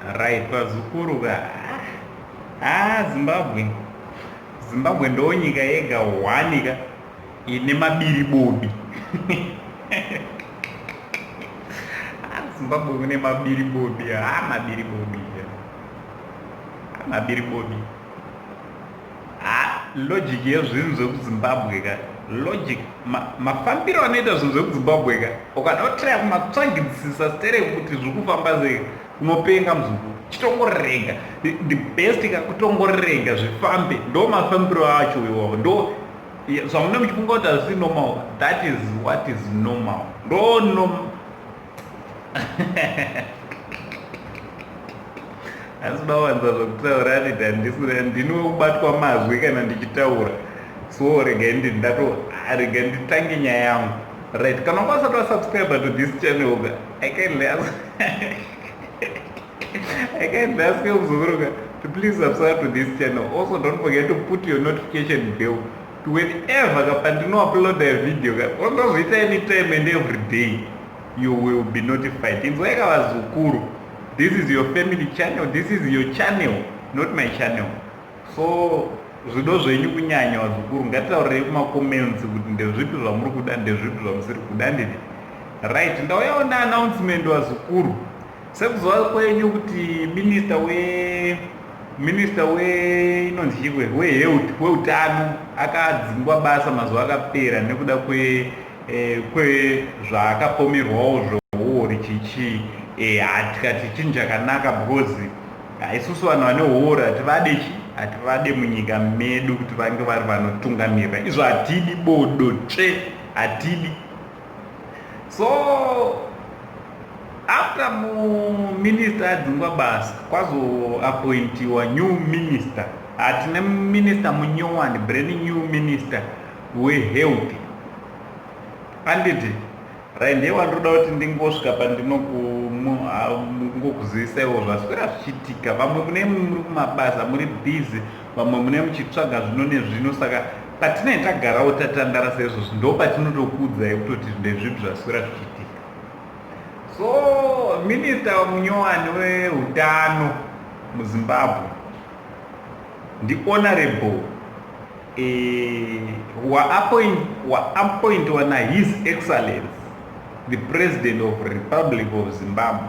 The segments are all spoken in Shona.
Right vazukuru ka. Ah Zimbabwe. Zimbabwe ndo nyika yega one ka ine mabiri bobi. Ah, Zimbabwe kune mabiri bobi. Ah mabiri bobi. Ah, mabiri bobi. Ha, logic yezvinhu zvekuZimbabwe ka. Logic ma, mafambiro anoita zvinhu zvekuZimbabwe ka. Ukada kutira kumatsvagidisisa stere kuti zviri kufamba sei unopenga muzukuru. Chitongorega. The, the best ka kutongorega zvifambe. Ndo mafambiro acho iwawo. Ndo zvamunenge muchifunga kuti hazvisi normal. That is what is normal. Ndo normal. asi mawanza zvokutaura anidi handisina ndini wekubatwa mazwi kana ndichitaura so regai ndi ndato regai nditange nyaya yangu right kana wanga usati wasubscribe to this channel ka i kindly ask i kindly ask you kuzokuruka to please subscribe to this channel also don't forget to put your notification bell Whenever ka pandino uploada video ka onozviita anytime and everyday you will be notified. Inzwai ka vazukuru. This is your family channel, this is your channel, not my channel. So zvido zvenyu kunyanya vazukuru ngatitaurei kumacomments kuti ndezvipi zvamuri kuda ndezvipi zvamusiri kuda ndini right ndauyawo neannouncement vazukuru Sekuziva kwenyu kuti minista we minista we inonzi chikwe wehealth weutano akadzingwa basa mazuva akapera nekuda kwe eh, kwezvaakapomerwawo zvohuori chichi eh, hatikati chinhu chakanaka because haisusu vanhu vane huori hativade chi hativade munyika medu kuti vange vari vanotungamirira izvo hatidi bodo tsve hatidi so after muminister adzingwa basa kwazoapointiwa new minister hatine minister munyowani brand new minister wehealth anditi rainde wandinoda kuti ndingosvika pandinongokuzivisa ivo zvaswera zvichiitika vamwe mune muri kumabasa muri busy Vamwe mune muchitsvaga zvino nezvino saka patinenge tagarawo tatandara seizvozvi ndo patinotokuudzai kutoti ndezvipi zvaswera zvichiitika. So minista munyowani weutano muZimbabwe ndiHonorable eh, waappointwa naHis Excellence the President of Republic of Zimbabwe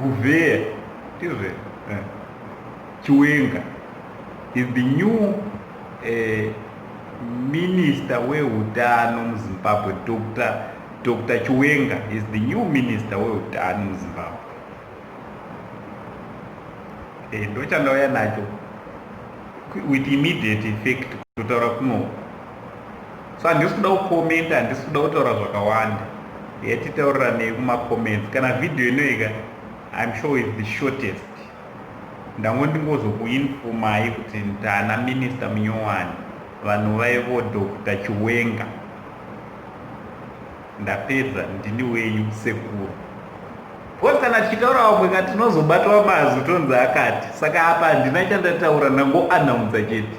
Guvheya, ndizvo here? Chiwenga is the new uh, minister wehutano muzimbabwe dr dr chiwenga is the new minister wehutano muzimbabwe e, eh, ndochandauya nacho with immediate effect kutotaura kuno so handisi kuda kukomenta handisi kuda kutaura zvakawanda yatitauriranei kumacomments kana vhidhiyo inoika im sure is the shortest ndango ndingozokuinfomai kuti ndana minista munyowani vanhu vaivo dr chiwenga ndapedza ndini wenyu sekuru bcause kana tichitaura vamwe ka tinozobatwa mazwi tonzi akati saka apa handina chandataura ndangoanaunza chete